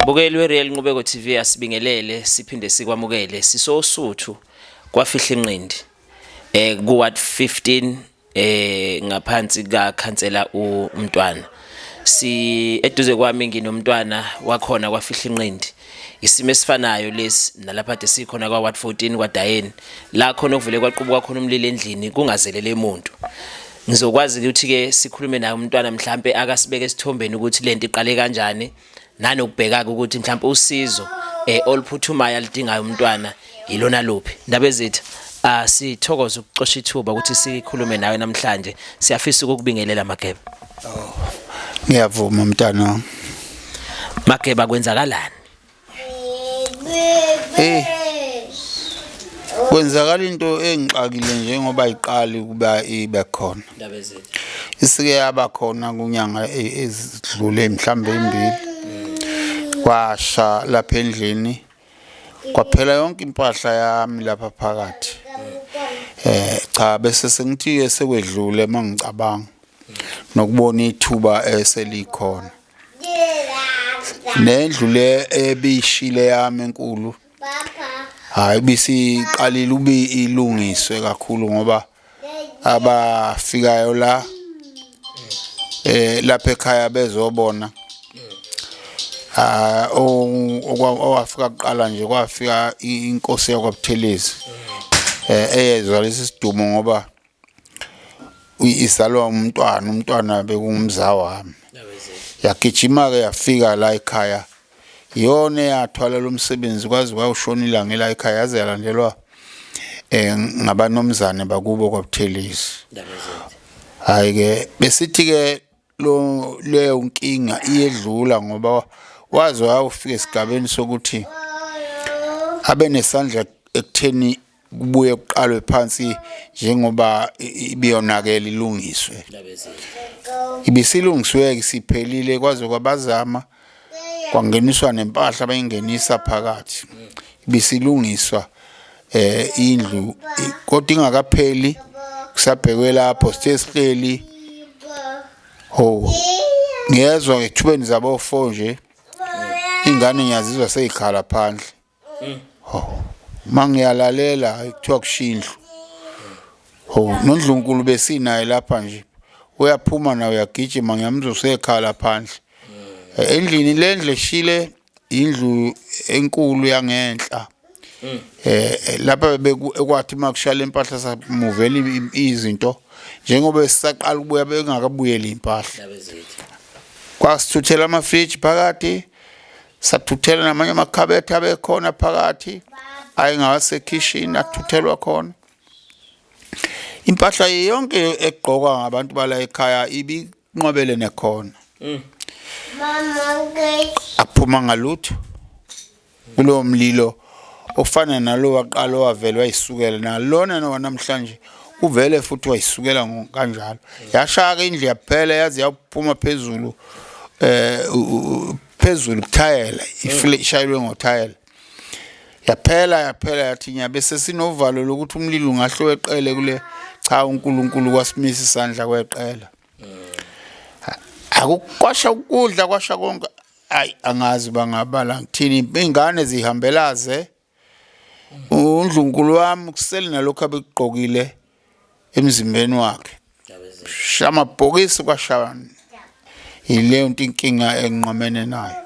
Bukeli weReal Nqubeko TV asibingelele siphinde sikwamukele sisosuthu kwafihla inqindi eh ku ward 15 eh ngaphansi ka khansela uMntwana si eduze kwami nginomntwana wakhona kwafihla inqindi isimo esifanayo lesi nalapha de sikhona kwa ward 14 kwaDayeni la khona okuvele kwaqubuka khona umlilo endlini kungazelele umuntu Ngizokwazi ukuthi-ke sikhulume naye umntwana mhlampe akasibeke esithombeni ukuthi lento iqale kanjani nanokubheka-ke ukuthi mhlampe usizo eh oluphuthumayo alidingayo umntwana yilona luphi ndaba ezitha ah sithokoza ukucosha ithuba ukuthi sikhulume nawe namhlanje siyafisa ukukubingelela mageba oh ngiyavuma mntana mageba kwenzakalani Hey. Kwenzakala into engixakile njengoba iqali kuba ibe khona. Indaba zethu. Isike yaba khona kunyanga e-, ezidlule mhlambe imbili. Kwasha lapha endlini. Kwaphela yonke impahla yami lapha phakathi. Eh cha bese sengithi esekwedlule mangicabanga nokubona ithuba eselikhona. nendlu le ebishile yami enkulu hayi bisiqalile ube ilungiswe kakhulu ngoba abafikayo la eh lapha ekhaya bezobona ah owafika kuqala nje kwafika inkosi yakwaButhelezi eh eyezwa lesi sidumo ngoba izalwa umntwana umntwana bekungumza wami yagijima-ke yafika la ekhaya iyona eyathwala lo msebenzi kwaze kwawushona ilanga ela ekhaya yaze yalandelwa um ngabanomzane bakubo kwabuthelezi hhayi-ke besithi-ke leyo nkinga iyedlula ngoba waze wawufika esigabeni sokuthi abe nesandla ekutheni kubuye kuqalwe phansi njengoba ibiyonakele ilungiswe ibisilungiswe-ke siphelile kwaze kwabazama kwangeniswa nempahla bayingenisa phakathi ibisilungiswa eh indlu kodwa ingakapheli kusabhekwe lapho sithe sihleli ho ngiyezwa ngethubeni zabofo nje ingane ngiyazizwa seyikhala phandle mm. oh mangiyalalela kuthiwa kushindlu oh nondlunkulu besinaye lapha nje uyaphuma nawe uyagijima ngiyamuzwa usekhala phandle mm. endlini lendle shile indlu enkulu yangenhla mm. eh lapha bekwathi makushala impahla samuvela izinto njengoba sisaqala ukubuya bengakabuyeli impahla kwasithuthela ama-fridge phakathi sathuthela namanye amakhabethe abekhona phakathi ayengawasekhishini athuthelwa khona impahla yonke egqokwa ngabantu bala ekhaya ibinqwabele nekhona mm. aphuma ngalutho kulowo mlilo mm. okufana nalo waqala owavele wayisukela nalona nowanamhlanje uvele futhi wayisukela kanjalo yashaya ke indlu yaphela yaze yaphuma phezulu eh phezulu kuthayela ishayelwe ngothayela yaphela yaphela yathi nyabe sesinovalo lokuthi umlilo ungahle weqele kule cha uNkulunkulu kwasimisa isandla kweqela akukwasha ukudla kwasha konke ayi angazi bangabala ngithini ingane zihambelaze undlunkulu wami kusele nalokho abekugqokile emzimbeni wakhe shama bhokisi kwashani yileyo nto inkinga enqomene nayo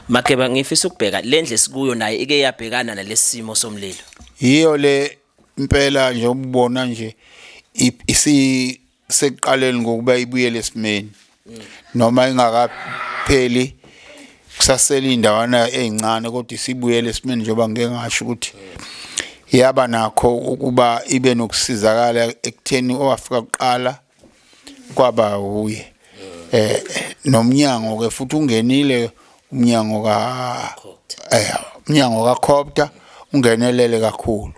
makeba ngifisa ukubheka lendle sikuyo naye ike yabhekana nalesimo somlilo yiyo le impela nje ubona nje isi sekuqaleni ngokuba ibuyele esimeni noma ingakapheli kusasele indawana ezincane kodwa isibuyele esimeni njengoba ngeke ngasho ukuthi yaba nakho ukuba ibe nokusizakala ekutheni owafika kuqala kwaba wuye eh nomnyango ke futhi ungenile umnyango ka eh umnyango ka Copter ungenelele kakhulu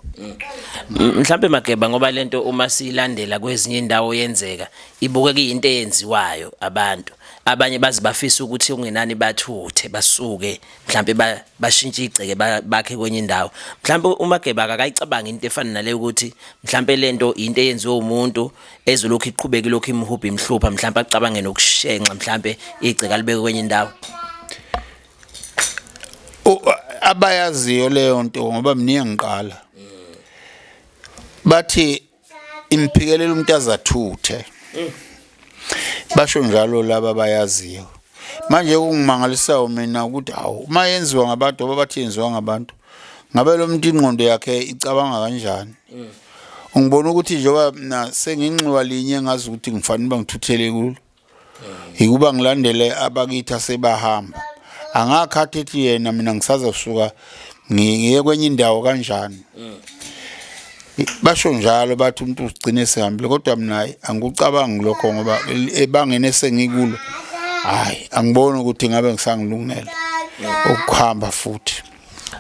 mhlambe mageba ngoba lento uma silandela kwezinye indawo yenzeka ibuke kuyinto eyenziwayo abantu abanye bazi bafisa ukuthi ungenani bathuthe basuke mhlambe bashintshe igceke bakhe kwenye indawo mhlambe umageba akayicabanga into efana nale ukuthi mhlambe lento into eyenziwe umuntu ezwe lokhu iqhubeke lokhu imhubha imhlupha mhlawumbe acabange nokushenxa mhlawumbe igceka libeke kwenye indawo abayaziyo leyo nto ngoba mningi ngiqala bathi imphikelela umuntu azathuthe basho njalo laba bayaziyo manje kungimangalisayo mina ukuthi hawu uma yenziwa ngabantu ababathi yenziwa ngabantu ngabe lo muntu ingqondo yakhe icabanga kanjani mm. ngibona ukuthi njengoba mina senginxiwa linye ngazi ukuthi ngifanele uba ngithuthele kulo mm. yikuba ngilandele abakithi asebahamba angakhathi ethi yena mina ngisazosuka ngiye kwenye indawo kanjani mm. basho njalo bathi umuntu ugcine sehambile kodwa mina angikucabangi lokho ngoba ebangene sengikulo hayi angiboni ukuthi ngabe ngisangilungele ukuhamba futhi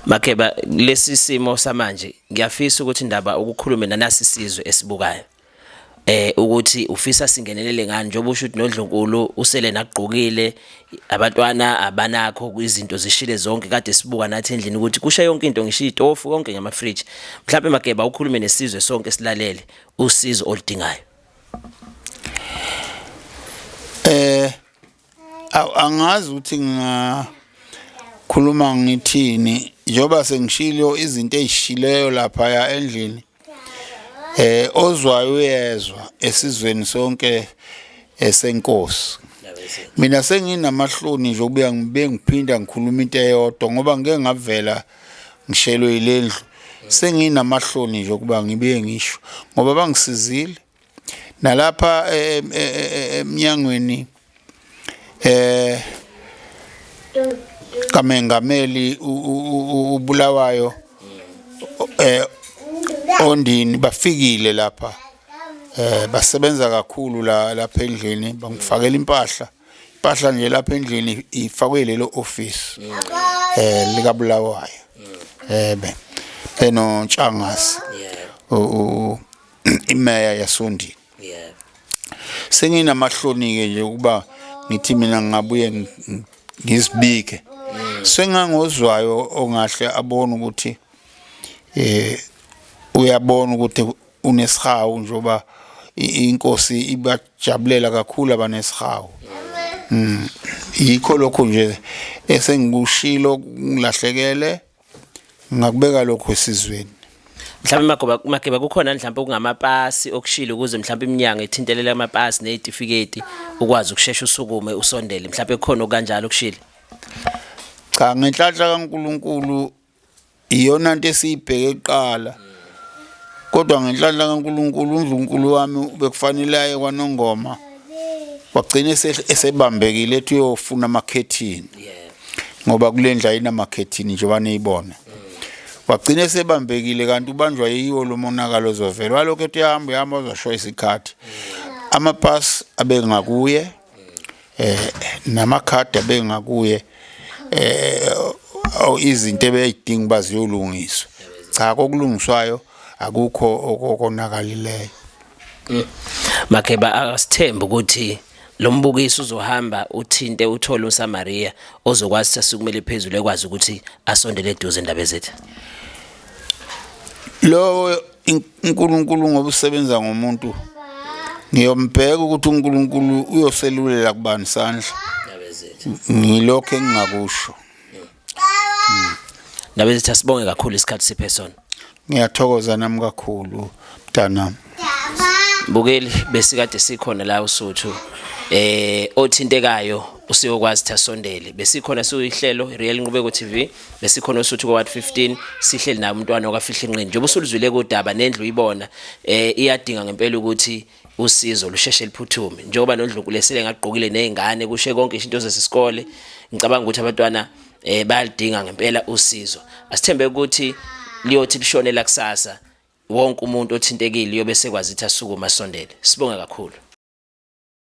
makheba lesi simo samanje ngiyafisa ukuthi indaba ukukhulume nanasi sizwe esibukayo eh ukuthi ufisa singenelele ngani njengoba usho ukuthi nodlonkulu usele nagqokile abantwana abanakho izinto zishile zonke kade sibuka nathi endlini ukuthi kusha yonke into ngisho itofu konke ngama fridge mhlawumbe mageba ukhulume nesizwe sonke silalele usizo oludingayo eh aw angazi ukuthi ngingakhuluma ngithini njengoba sengishilo izinto ezishileyo lapha ya endlini eh ozwayo uyezwa esizweni sonke esenkosi mina senginamahloni nje ukubuya ngibe ngiphinda ngikhuluma into eyodwa ngoba ngeke ngavela ngishelwe yilendlu senginamahloni nje ukuba ngibuye ngisho ngoba bangisizile nalapha eh, eh, eh, emnyangweni eh kamengameli ubulawayo eh ondini bafikile lapha eh basebenza kakhulu la lapha endlini bangifakela impahla impahla nje lapha endlini ifakwe lelo office eh lika bulawayo eh be eno ntshangasi o imeya yasondini yeah senginamahlonike nje ukuba ngithi mina ngabuye ngizibike mm. sengangozwayo ongahle abone ukuthi eh uyabona ukuthi unesihawu njoba inkosi ibajabulela kakhulu abanesihawu mm. mm. yikho lokho nje esengikushilo ngilahlekele ngingakubeka lokho esizweni mhlawumbe magoba mageba kukhona mhlawumbe okungamapasi okushilo ukuze mhlawumbe iminyango ithintelela amapasi nezitifiketi ukwazi ukushesha usukume usondele mhlawumbe kukhona okanjalo okushilo cha ngenhlanhla kaNkuluNkulu iyona into esiyibheke kuqala mm. kodwa ngenhlanhla kaNkulunkulu uNdlunkulu wami bekufanele aye kwanongoma wagcina esebambekile ethi uyofuna amakhethini ngoba kule ndla inamakhethini nje baniyibona wagcina esebambekile kanti ubanjwa yiwo lo monakalo ozovela walokhu ethi uyahamba uyahamba uzosho isikhathi amapasi abengakuye eh namakhadi abengakuye eh izinto ebeyidinga uba ziyolungiswa cha kokulungiswayo akukho okonakalileyo mm. makheba asithembe ukuthi lo mbukiso uzohamba uthinte uthole uSamaria ozokwazi sasukumele phezulu ekwazi ukuthi asondele eduze indaba ezethu lo uNkulunkulu ngoba usebenza ngomuntu ngiyombheka ukuthi uNkulunkulu uyoselulela kubani sandla ngilokho engingakusho ndaba ezithi asibonge kakhulu isikhathi siphe sona ngiyathokoza nami kakhulu mntanami bukeli besikade sikhona la usuthu eh othintekayo usiyokwazi ukuthi asondele besikhona siyihlelo Real Nqubeko TV besikhona osuthi kwa 15 sihleli naye umntwana okafihla inqini njengoba usuluzwile kodaba nendlu ibona eh iyadinga ngempela ukuthi usizo lusheshe liphuthume njengoba nondlunkulu esele ngagqokile nezingane kushe konke izinto zesikole ngicabanga ukuthi abantwana eh bayalidinga ngempela usizo asithembe ukuthi liyothi lishone la kusasa wonke umuntu othintekile uyobe sekwazi ukuthi asukume asondele sibonge kakhulu